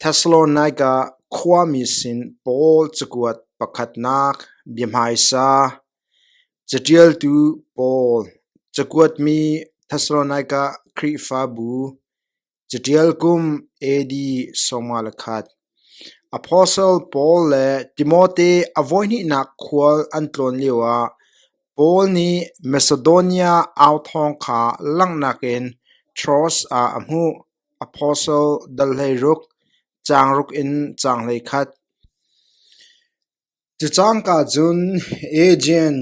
Thesalonika khuami sin Paul cakuat pakhatnak bia hmaisa Caṭialtu Paul, cakuatmi Thesalonika Khrihfabu, caṭial kum AD sawmnga le khat. Apostle Paul le Timote a voihnihnak khual an tlawn lioah Paul nih Macedonia au thawng kha langhnak in Troas ah a hmuh. Apostle dal hlei ruk, caang ruk in caang hlei khat. Cu cangka cun Aegean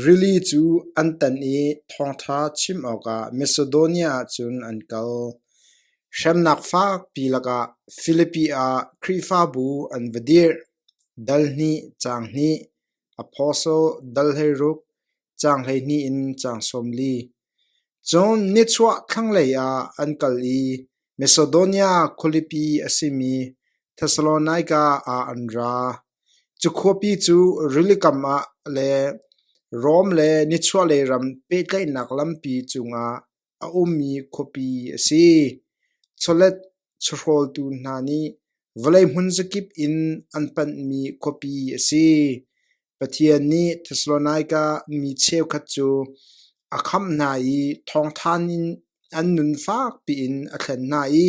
rili cu an tan i thawngṭha chim awkah Macedonia ah cun an kal. Hremnak fakpi lakah Filipi ah Khrihfabu an va dirh. Dal hnih, caang hnih, Apostle dal hlei ruk, caang hleihnih in caang sawm li. Cun nichuah thlanglei ah an kal i Macedonia khualipi a simi Thessalonika ah an ra. Cu khuapi cu rili kam ah le Rom le nichuahlei ram pehtlaihnak lampi cungah a ummi khuapi a si. Chawlet Chahrawltu hna nih vawlei hmun zakip in an panhmi khuapi a si. Pathian nih Thessalonika mi cheukhat cu a khamh hna i thawngthan in an nun fakpi in a thlen hna i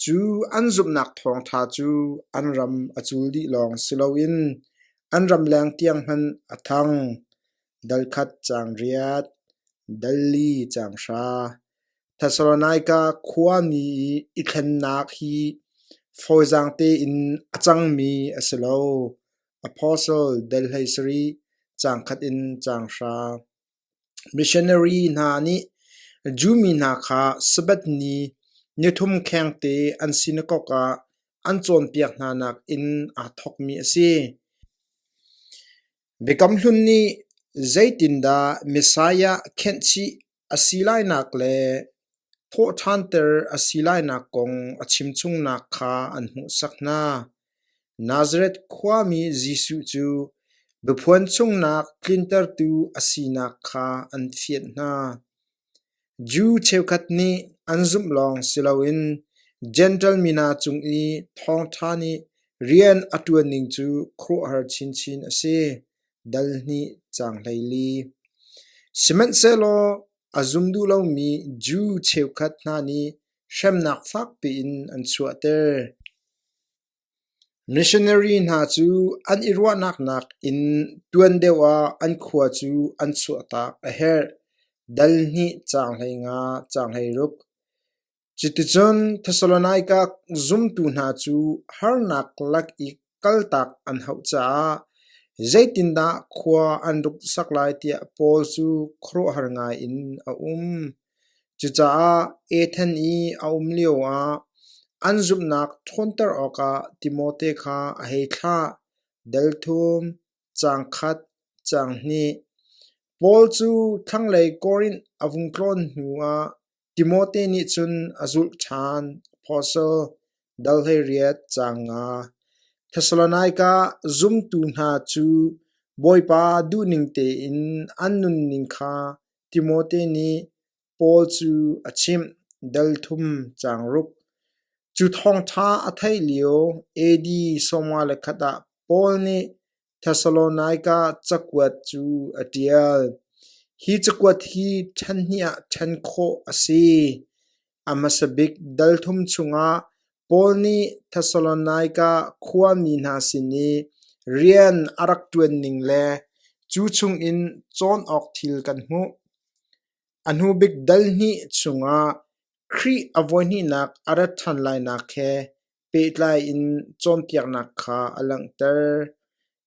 cu an zumhnak thawngtha cu an ram a cul dih lawng si loin an ramleng tiang hmanh a thang. Dal khat caang riat, dal li caang hra. Thessalonika khuami i thlennak hi fawizaang tein a cangmi a si lo, apostle del hlei sarih, caang khat in caang hra. Missionary hna nih Jew mi hna kha Sabbath ni nithum khengte an sinakok ah an cawnpiak hna nakin aa thawkmi a si. Biakam Hlun nih zeitindah Messiah khenhchih a si lainak le thawhṭhanter a si lainak kong a chimchungnak kha an hmuhsak hna. Nazareth khuami Jesuh cu biaphuan chungnak tlintertu a sinak kha an fianh hna. Jew cheukhat nih an zumh lawng si loin Jentail mi hna cung i thawngṭha nih rian a ṭuan ning cu khuaruahhar chinchin a si. dal hnih cang hlei li. Sihmanhsehlaw a zum duh lomi Jew cheukhat hna nih hremnak fakpi in an chuahter. Missionary hna cu an i ruahnak nak in tuan deuh ah an khua cu an chuahtak a herh. Dal hnih cang hlei nga cang hlei ruk. Cuticun Thesalonika zumtu hna cu harnak lak i kaltak an hauh caah zeitindah khua an ruksak lai tiah Paul cu khuaruahhar ngaiin a um. Cucaah Athen i a um lioah an zumhnak ṭhawnter awkah Timote kha a hei thlah. Delthum, caang khat, caang hnih. Paul cu thlanglei Korinth a vung tlawn hnuah Timote nih cun a zulh ṭhan. Apostle, dalhleriat caang nga. Thesalonaika zumtu hna cu Bawipa duhning tein an nunning kha Timote nih Paul cu a chimh. Dal thum caang ruk. Cu thawngṭha a theih lio AD sawmnga le khat ah Paul nih Thesalonika cakuat cu a ṭial. Hi cakuat hi ṭhenhniah ṭhen khawh a si. A hmasa bik dal thum chungah Paul nih Thesalonika khuami hna sin i rian a rak ṭuan ning le cu chungin cawn awk thil kan hmuh. A hnubik dal hnih chungah Khrih a voihnihnak a rat ṭhan lainak he pehtlai in cawnpiaknak kha a langhter.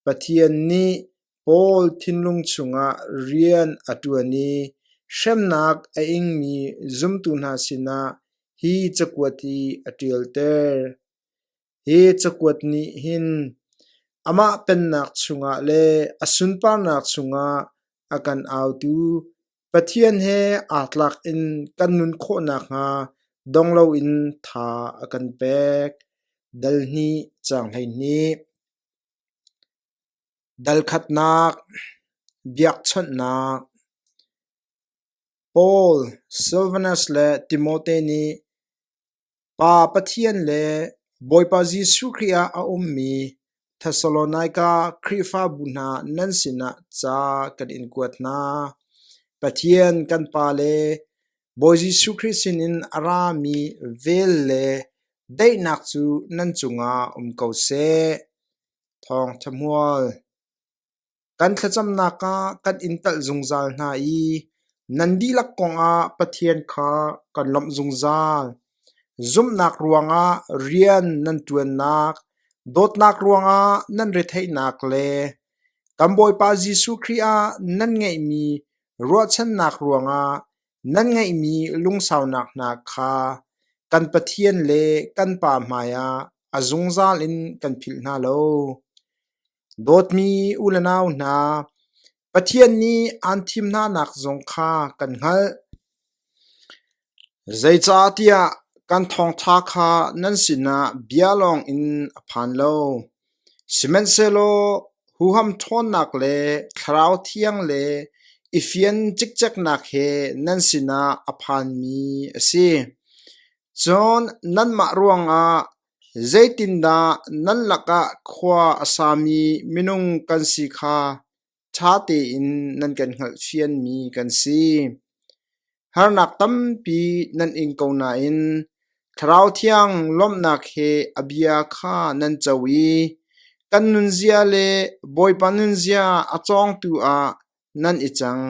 Pathian nih Paul thinlung chungah rian a ṭuan i hremnak a ingmi zumtu hna sinah hi cakuat hi a ṭialter. Hi cakuat nih hin amah pennak chungah le a sunparnak chungah a kan autu Pathian he aa tlak in kan nun khawh nakhnga dong loin tha a kan pek. Dal hnih, caang hleihnih. Dalkhatnak, biakchawnhnak. Paul, Silvanus le Timote nih Pa Pathian le Bawipa Jesuh Khrih ah a ummi Thessalonika Khrihfabu hna nan sinah ca kan in kuat hna. Pathian kan Pa le Bawi Jesuh Khrih sinin a rami vel le daihnak cu nan cungah um ko seh. Thawng ṭhahmual. Kan thlacamnak ah kan in telh zungzal hna i nan dihlak kongah Pathian kha kan lawmh zungzal. Zumhnak ruangah rian nan ṭuannak, dawtnak ruangah nan retheihnak le kan Bawipa Jesuh Khrih ah nan ngeihmi ruahchannak ruangah nan ngeihmi lungsaunak hna kha kan Pathian le kan Pa hmaiah a zungzal in kan philh hna lo. Dawtmi u le nau hna, Pathian nih aan thim hnanak zong kha kan hngalh. Zeicahtiah kan thawngṭha kha nan sinah bia lawng in a phan lo, sihmanhsehlaw huham ṭhawnnak le Thlarau Thiang le i fian cikceknak he nan sinah a phanmi a si. Cun nanmah ruangah Zeitindah nan lakah khua a sami minung kan si kha ṭha tein nan kan hngalhfianmi kan si. Harnak tampi nan ing ko nain Thlarau Thiang lawmhnak he a bia kha nan co i kan nunzia le Bawipa nunzia a cawngtu ah nan i cang.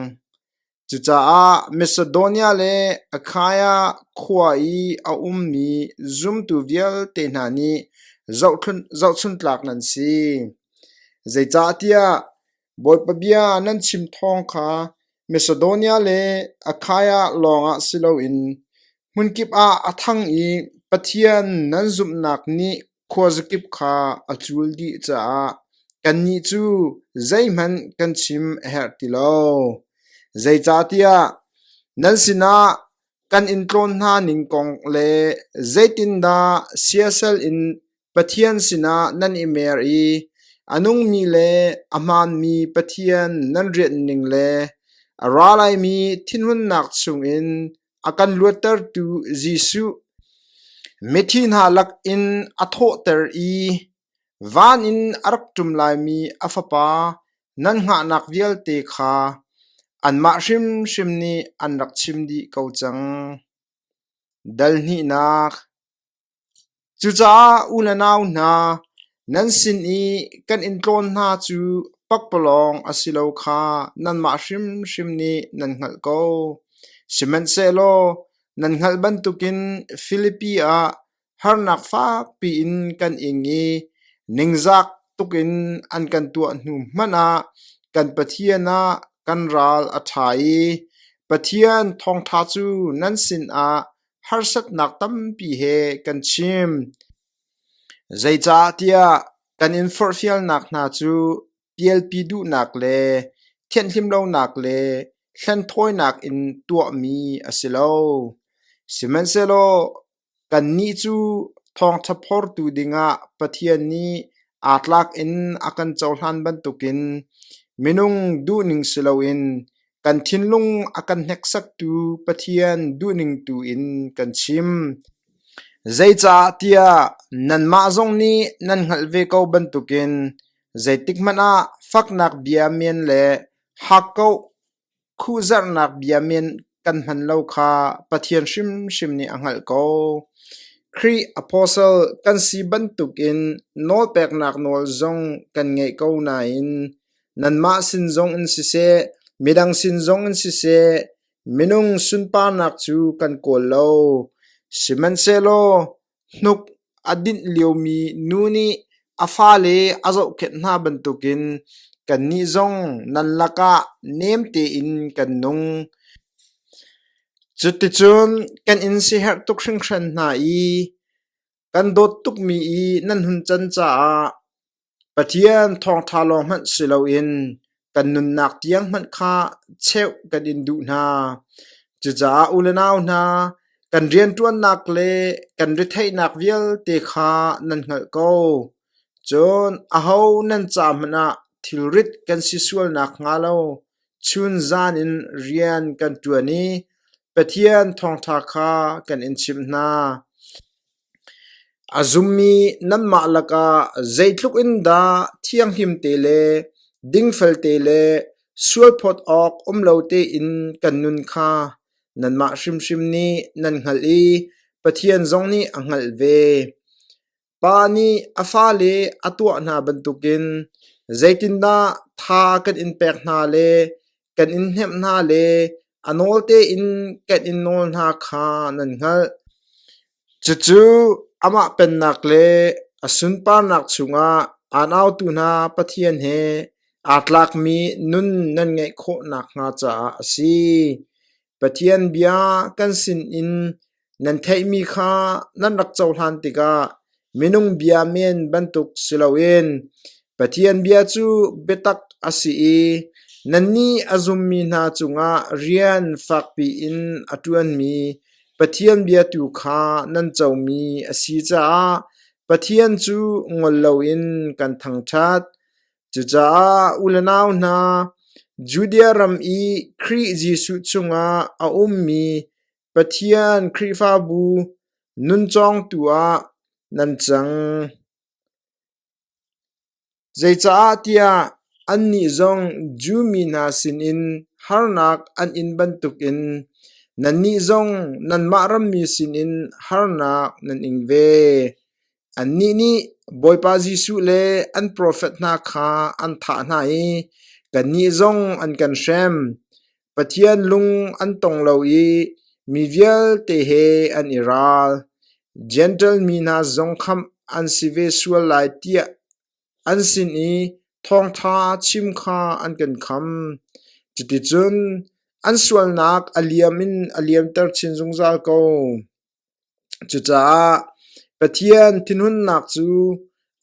Cucaah Macedonia le Akhaya khua i a ummi zumtu vialte hna nih zohchuntlak nan si. Zeicahtiah Bawipa bia nan chim thawng kha Macedonia le Akhaya lawngah si loin hmunkip ah a thang i Pathian nan zumhnak nih khuazakip kha a cul dih caah kannih cu zeihmanh kan chim a herh ti lo. Zeicahtiah nan sinah kan in tlawn hna ning kong le zeitindah siasal in Pathian sinah nan i mer i a nungmi le a hmaanmi Pathian nan rianh ning le a ra laimi thinhunnak chungin A kan luattertu Jesuh mithi hna lakin a thawhter i van in a rak ṭum laimi a Fapa nan hngahnak vialte kha anmah hrimhrim nih an rak chim dih ko cang. Dal hnihnak Cucaah u le nau hna, nan sin i kan in tlawn hna cu pakpalawng a si lo kha nanmah hrimhrim nih nan hngalh ko. Sihmanhsehlaw nan hngalh bantukin Filipi ah harnak fakpi in kan ing i ningzak tukin an kan tuah hnu hmanh ah kan Pathian ah kan ral a ṭha i Pathian thawngṭha cu nan sinah harsatnak tampi he kan chim. Zeicahtiah kan in forhfialnak hna cu pialpi duhnak le thianhlimlonak le hlenthawinak in tuahmi a si lo. Sihmanhsehlaw kannih cu thawngṭha phortu dingah Pathian nih aa tlak in a kan cohlan bantukin minung duhning si loin Kan thinlung a kan hneksaktu Pathian duhningtu in kan chim. Zeicah tiah nanmah zong nih nan hngalh ve ko bantukin zeitikhmanh ah faknak bia men le hakkauh khuhzarhnak bia men kan hman lo kha Pathian hrimhrim nih a hngalh ko. Khrih apostle kan si bantukin nawlpeknak nawl zong kan ngeih ko nain Nanmah sin zong in siseh, midang sin zong in siseh, minung sunparnak cu kan kawl lo; sihmanhsehlaw hnuk a dinh liomi nu nih a fale a zohkhenh hna bantukin kannih zong nan lakah nem tein kan nung. Cuticun kan in siherh tuk hringhran hna i kan dawt tukmi i nan hun can caah Pathian thawngṭha lawng hmanh si loin kan nunnak tiang hmanh kha cheuh kan in duh hna. Cucaah u le nau hna, kan rianṭuannak le kan retheihnak vialte kha nan hngalh ko. Cun aho nan ca hmanh ah thilrit kan si sualnak hnga lo chun zan in rian kan ṭuan i Pathian thawngṭha kha kan in chimh hna. A zummi nanmah lakah zeitluk in dah thianghlim te le dingfel te le sualphawt awk um lo tein kan nun kha nanmah hrimhrim nih nan hngalh i Pathian zong nih a hngalh ve. Pa nih a fale a tuah hna bantukin zeitindah tha kan in pek hna le kan in hnemh hna le a nawl tein kan in nawl hna kha nan hngalh. Cucu amah pennak le a sunparnak chungah a nautu hna Pathian he aa tlakmi nun nan ngeih khawh nakhnga caah a si. Pathian bia kan sinin nan theihmi kha nan rak cohlan tikah minung bia men bantuk si loin Pathian bia cu biatak a si i nannih a zummi hna cungah rian fakpi in a ṭuanmi Pathian bia tu kha nan comi a si caah Pathian cu ngol loin kan thangṭhat. Cucaah u le nau hna, Judea ram i Khrih Jesuh chungah a ummi Pathian Khrihfabu nun cawngtu ah nan cang. Zeicahtiah annih zong Jew mi hna sinin harnak an in bantukin nannih zong nanmah ram mi sinin harnak nan ing ve. Annih nih Bawipa Jesuh le an profet hna kha an thah hna i kannih zong an kan hrem. Pathian lung an tong lo i mi vialte he an i ral. Jentail mi hna zong khamh an si ve sual lai tiah an sin i thawngṭha chim kha an kan kham. Cuticun an sualnak a liam in a liamter chin zungzal ko. Cucaah Pathian thinhunnak cu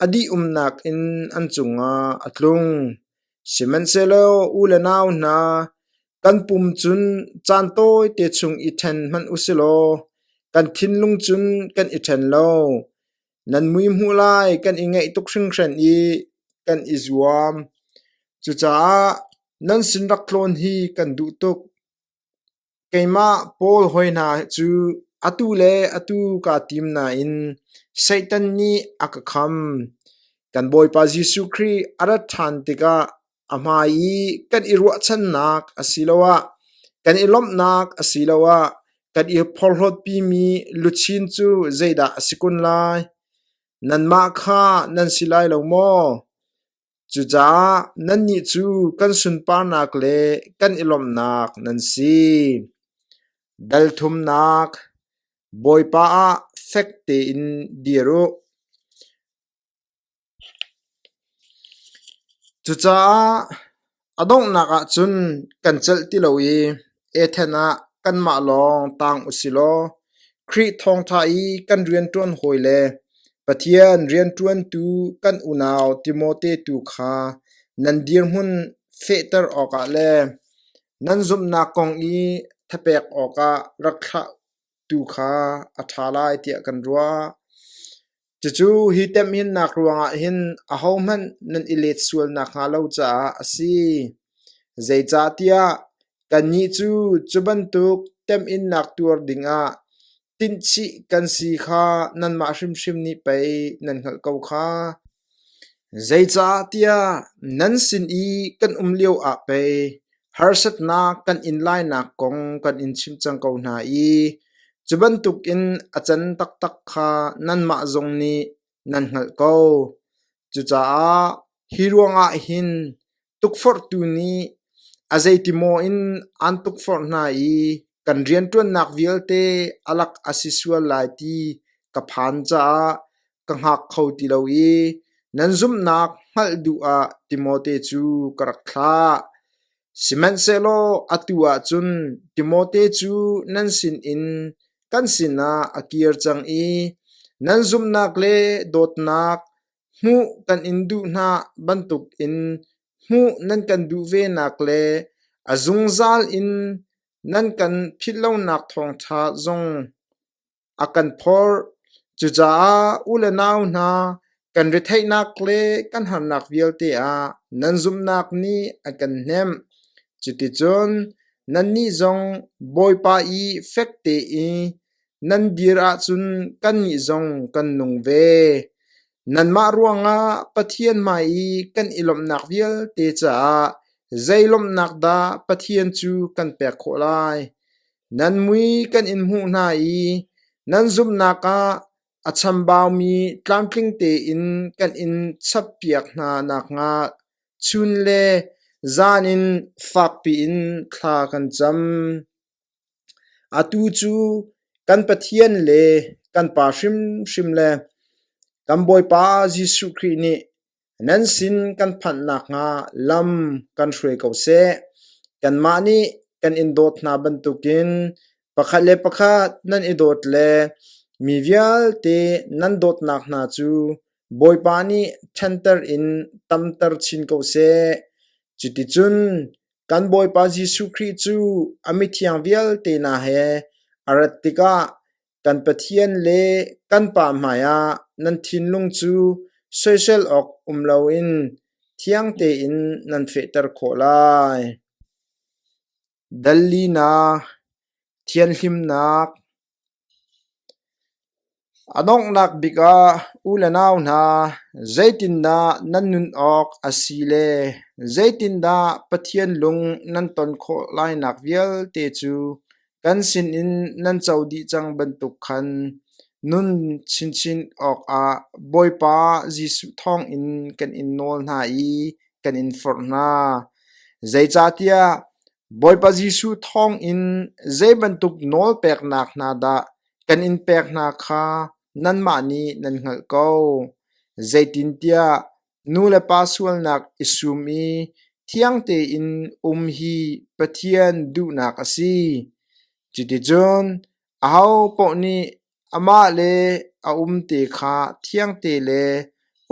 a dih-umnak in an cungah a tlung. Sihmanhsehlaw u le nau hna, kan pum cun caan tawite chung i ṭhen hmanh u silaw kan thinlung cun kan i ṭhen lo. Nan mui hmuh lai kan i ngaih tuk hringhran i kan i zuam. Cucaah nan sin rak tlawn hi kan duh tuk. Keimah Paul hawi hna cu atu le atu kaa tim nain Satan nih a ka kham. Kan Bawipa Jesuh Khrih a rat ṭhan tikah a hmai i kan i ruahchannak asiloah kan i lawmhnak asiloah kan i porhlawtpimi luchin cu zeidah a si kun lai? Nanmah kha nan si lai lo maw? Cucaah nannih cu kan sunparnak le kan i lawmhnak nan si. Dalthumnak, Bawipa ah fek tein dir u. Cucaah A donghnak ahcun kan celh ti lo i ethen ah kanmah lawng tang u silaw Khrih thawngṭha i kan rianṭuan hawi le Pathian rianṭuantu kan unau Timote tu kha nan dirhmun fehter awkah le nan zumhnak kong i thapek awkah rak thlah tu kha a ṭha lai tiah kan ruah. Cucu hi temhinnak ruangah hin ahohmanh nan i let sual nakhnga lo caah a si. Zeicahtiah kannih cu cu bantuk temhinnak tuar dingah tinhchih kan si kha nanmah hrimhrim nih pei nan hngalh ko kha. Zeicahtiah nan sin i kan um lioah pei harsatnak kan in lainak kong kan in chim cang ko hna i cu bantukin a can taktak kha nanmah zong nih nan hngalh ko. Cucaah hi ruangah hin Tukforhtu nih a zeiti maw in aan tukforh hna i kan rianṭuannak vialte a lak a si sual lai ti ka phan caah ka hngak kho ti lo i nan zumhnak hngalh duh ah Timote cu ka rak thlah. Sihmanhsehlaw atu ah cun Timote cu nan sinin kan sinah a kir cang i nan zumhnak le dawtnak Hmuh kan in duh hna bantukin hmuh nan kan duh venak le a zungzal in nan kan philh lonak thawngṭha zong a kan phorh. Cucaah u le nau hna, kan retheihnak le kan harnak vialte ah nan zumhnak nih a kan hnemh. Cuticun nannih zong Bawipa i fek tein Nan dir ahcun kannih zong kan nung ve. Nanmah ruangah Pathian hmai i kan i lawmhnak vialte caah zei lawmhnak dah Pathian cu kan pek khawh lai? Nan mui kan in hmuh hna i nan zumhnak ah a chambaumi tlamtling tein kan in chappiak hna nakhnga chun le zan in fakpiin thla kan cam. Atu cu kan Pathian le kan Pa hrimhrim le kan Bawipa Jesuh Khrih nih nan sin kan phanh nakhnga lam kan hruai ko seh. Kanmah nih kan in dawt hna bantukin pakhat le pakhat nan i dawt le mi vialte nan dawtnak hna cu Bawipa nih ṭhenter in tamter chin ko seh. Cuticun Kan Bawipa Jesuh Khrih cu a mithiang vialte hna he a rat tikah kan Pathian le kan Pa hmaiah nan thinlung cu soisel awk um loin thiang tein nan fehter khawh lai. Dal linak, thianhlimnak, A donghnak bik ah u le nau hna zeitindah nan nun awk a si le zeitindah Pathian lung nan ton khawh lainak vialte cu kan sinin nan co dih cang bantuk khan nun chinchin awkah Bawipa Jesuh thawngin kan in nawl hna i kan in forh hna. Zeicahtiah Bawipa Jesuh thawngin zei bantuk nawl peknak hna dah kan in pek hna kha nanmah nih nan hngalh ko. Zeitintiah nu le pa sualnak i sum i thiang tein um hi Pathian duhnak a si. Cuticun Ahopaoh nih amah le a um te kha thiangte le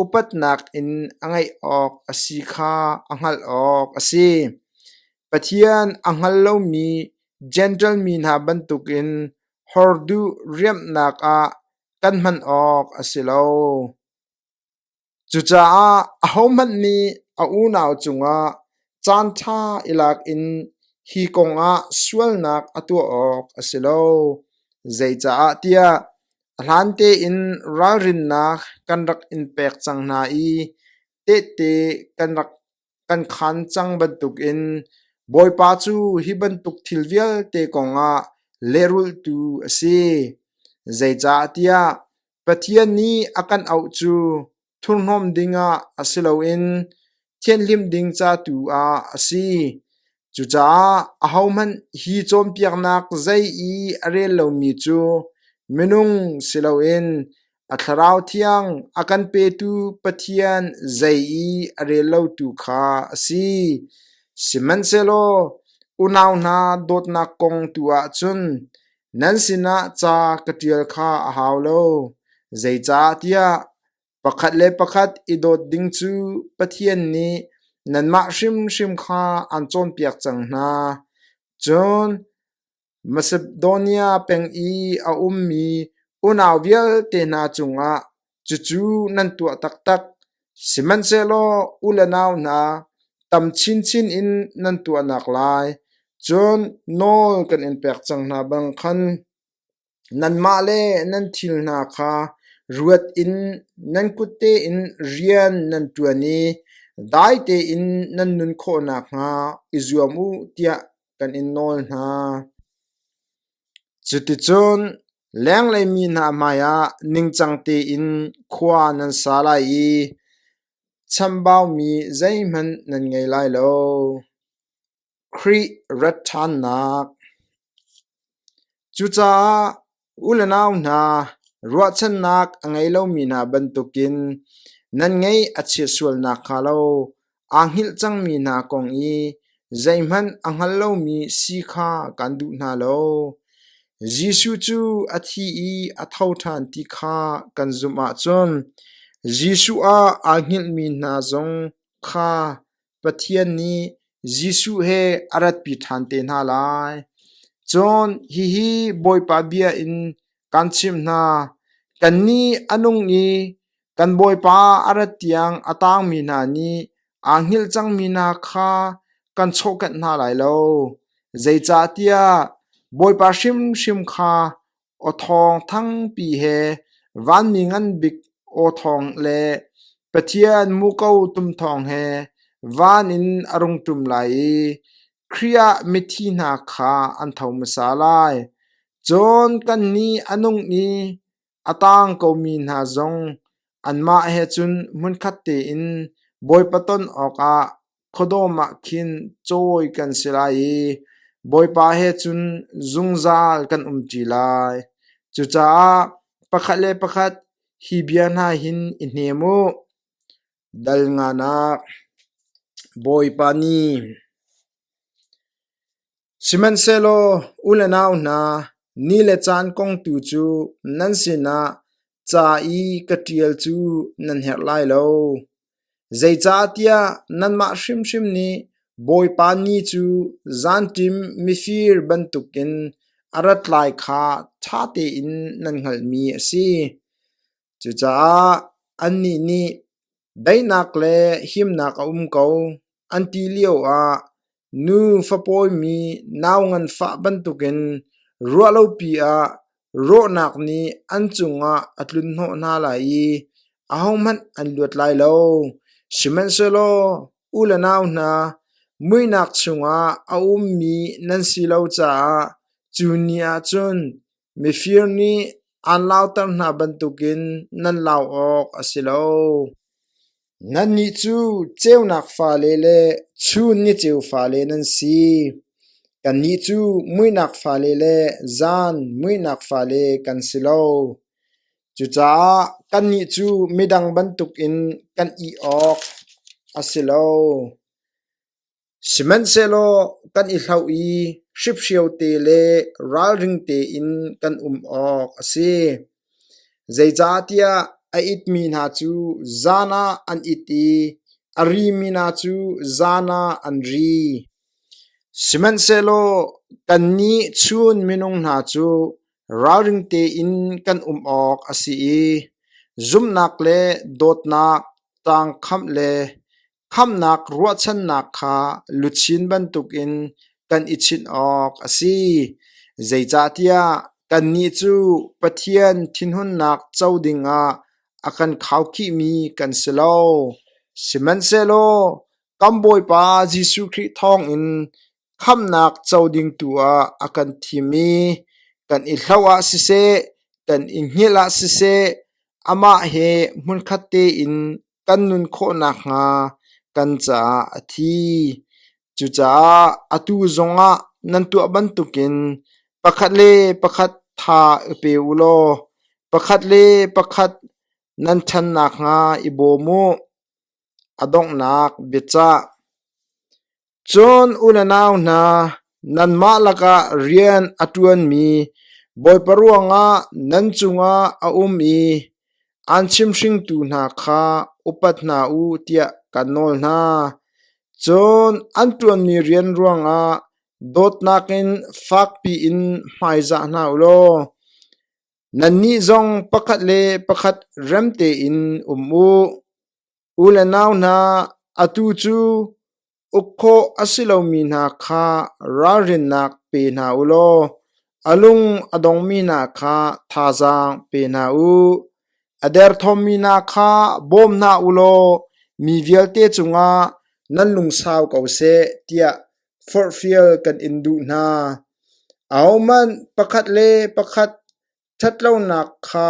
upatnak in a ngeih awk a si kha a hngalh awk a si. Pathian a hngal lomi Jentail mi hna bantukin hor duh riamhnak ah kan hman awk a si lo. Cucaah ahohmanh nih a unau cungah caanṭha i lak in hi kongah sualnak a tuah awk a si lo. Zeicah tiah a hlan tein ralrinnak kan rak in pek cang hna i tehte kan rak kan khan cang bantukin Bawipa cu hi bantuk thil vialte kongah lehrultu a si. Zeicahtiah Pathian nih a kan auh cu thurhnawm dingah a si loin thianhlim ding ca tu ah a si. Cucaah ahohmanh hi cawnpiaknak zei i a rel lomi cu minung si loin A thlarau thiang a kan petu Pathian zei i a rel lotu kha a si. Sihmanhsehlaw unau hna dawtnak kong tu ahcun nan sinah ca ka ṭial kha a hau lo. Zeicahtiah pakhat le pakhat i dawt ding cu Pathian nih nanmah hrimhrim kha aan cawnpiak cang hna. Cun Masedonia peng i a ummi unau vialte hna cungah cucu nan tuah taktak; sihmanhsehlaw u le nau hna, tam chinchin in nan tuahnak lai, cun nawl kan in pek cang hna bang khan, nanmah le nan thil hna kha ruat in nan kutte in rian nan ṭuan i dai tein nan nun khawh nakhnga i zuam u, tiah kan in nawl hna. Cuticun lenglei mi hna hmaiah ningcang tein khua nan sa lai i chambaumi zeihmanh nan ngei lai lo. Khrih rat ṭhannak Cucaah U le nau hna, ruahchannak a ngei lomi hna bantukin nan ngaih a chia sual nakhnga lo aa hngilh cangmi hna kong i zeihmanh a hngal lomi si kha kan duh hna lo. Jesuh cu a thi i a tho ṭhan ti kha kan zumh ahcun Jesuh ah aa hngilhmi hna zong kha Pathian nih Jesuh he a ratpi ṭhan te hna lai. Cun hihi Bawipa bia in kan chimh hna: kannih a nung i kan Bawipa a rat tiang a tangmi hna nih aa hngilh cangmi hna kha kan chawhkanh hna lai lo. Zeicahtiah Bawipa hrimhrim kha aw thawng thangpi he vanmi nganbik aw thawng le Pathian muko tum thawng he van in a rung ṭum lai i Khrih ah mithi hna kha an tho hmasa lai. Cun kannih a nung i a tang komi hna zong anmah he cun hmunkhat tein Bawipa ton awkah Khuadawm ah khin cawi kan si lai i Bawipa he cun zungzal kan um ṭi lai. Cucaah pakhat le pakhat hi bia hna hin i hnem u. Dal ngan ah, Bawipa nih, Sihmanhsehlaw u le nau hna, ni le caan kong tu cu nan sinah ca i ka ṭial cu nan herh lai lo. Zeicahtiah nanmah hrimhrim nih Bawipa ni cu zanṭim mifir bantukin a rat lai kha ṭha tein nan hngalhmi a si. Cucaah annih nih daihnak le himnak a um ko, an ti lioah nu fapawimi nau nganfah bantukin ruahlopi ah rawhnak nih an cungah a tlunhnawh hna lai i ahohmanh an luat lai lo. Sihmanhsehlaw u le nau hna, muihnak chungah a ummi nan si lo caah cu ni ah cun Mifir nih aan lauter hna bantukin nan lau awk a si lo. Nannih cu ceunak fale le chun ni ceu fale nan si. Kannih cu muihnak fale le zan muihnak fale kan si lo. Cucaah kannih cu midang bantukin kan ih awk a si lo. Sihmanhsehlaw kan i hloh i hriphrio te le ralring tein kan um awk a si. Zeicahtiah a itmi hna cu zan ah an it i a rimi hna cu zan ah an ri. Sihmanhsehlaw kannih chun minung hna cu ralring tein kan um awk a si i zumhnak le dawtnak, tangkhamh le Khamhnak ruahchannak kha luchin bantukin kan i chinh awk a si, zeicahtiah kannih cu Pathian thinhunnak co dingah a kan khaukhihmi kan si lo. Sihmanhsehlaw kan Bawipa Jesuh Khrih thawngin khamhnak co ding tu ah a kan thim i kan i hloh ah siseh, kan i hngilh ah siseh, amah he hmunkhat tein kan nun khawh nakhnga kan caah a thi. Cucaah atu zongah nan tuah bantukin pakhat le pakhat tha i pe u law pakhat le pakhat nan ṭhan nakhnga i bawm u. A donghnak biacah Cun unau hna, nanmah lakah rian a ṭuanmi Bawipa ruangah nan cungah a um i aan chimhringtu hna kha upat hna u tiah kan nawl hna. Cun an ṭuanmi rian ruangah dawtnak in fakpi in hmaizah hna u law nannih zong pakhat le pakhat remtein um u. U le nau hna, atu cu uk khawh a si lomi hna kha ralrinnak pe hna u law a lung a dongmi hna kha thazaang pe hna u. A derthawmmi hna kha bawm hna u law mi vialte cungah nan lungsau ko seh tiah forhfial kan in duh hna. Ahohmanh pakhat le pakhat ṭhatlonak kha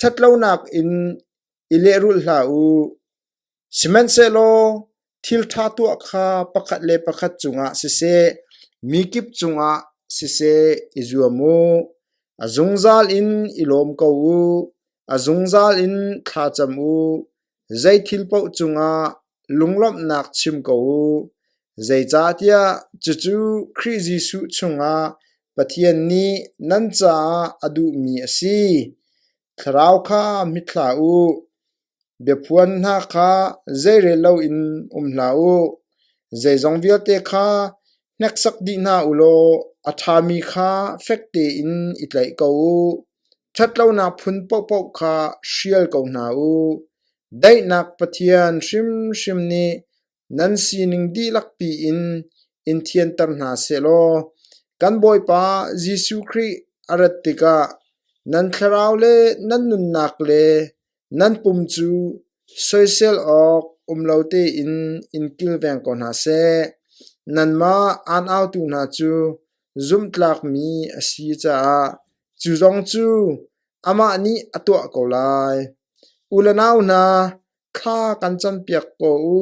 ṭhatlonak in i lehrulh hlah u; sihmanhsehlaw thil ṭha tuah kha pakhat le pakhat cungah siseh, mi kip cungah siseh i zuam u. A zungzal in i lawm ko u; a zungzal in thlacam u. Zeithil paoh cungah lunglawmhnak chim ko u, zeicahtiah cucu Khrih Jesuh chungah Pathian nih nan caah a duhmi a si. Thlarau kha mithlah u, biaphuan hna kha zeirel loin um hlah u; zeizong vialte kha hneksak dih hna u law a ṭhami kha fek tein i tlaih ko u. Ṭhatlonak phun paohpaoh kha hrial ko hna u. Daihnak Pathian hrimhrim nih Nan sining dihlak piin in thianter hna sehlaw kan Bawipa Jesuh Khrih a rat tikah nan thlarau le nan nunnak le nan pum cu soisel awk um lo tein in kilveng ko hna seh. Nanmah aunautu hna cu zumhtlakmi a si caah cu zong cu amah nih a tuah ko lai. U le nau hna, kha kan campiak ko u;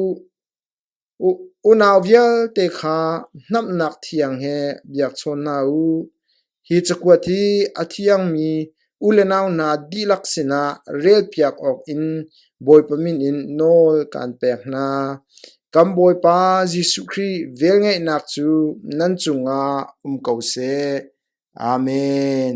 unau vialte kha hnamhnak thiang he biakchawn hna u. Hi cakuat hi a thiangmi u le nau hna dihlak sinah relpiak awkin Bawipa min in nawl kaan pek hna. Kan Bawipa Jesuh Khrih velngeihnak cu nan cungah um ko seh. Amen.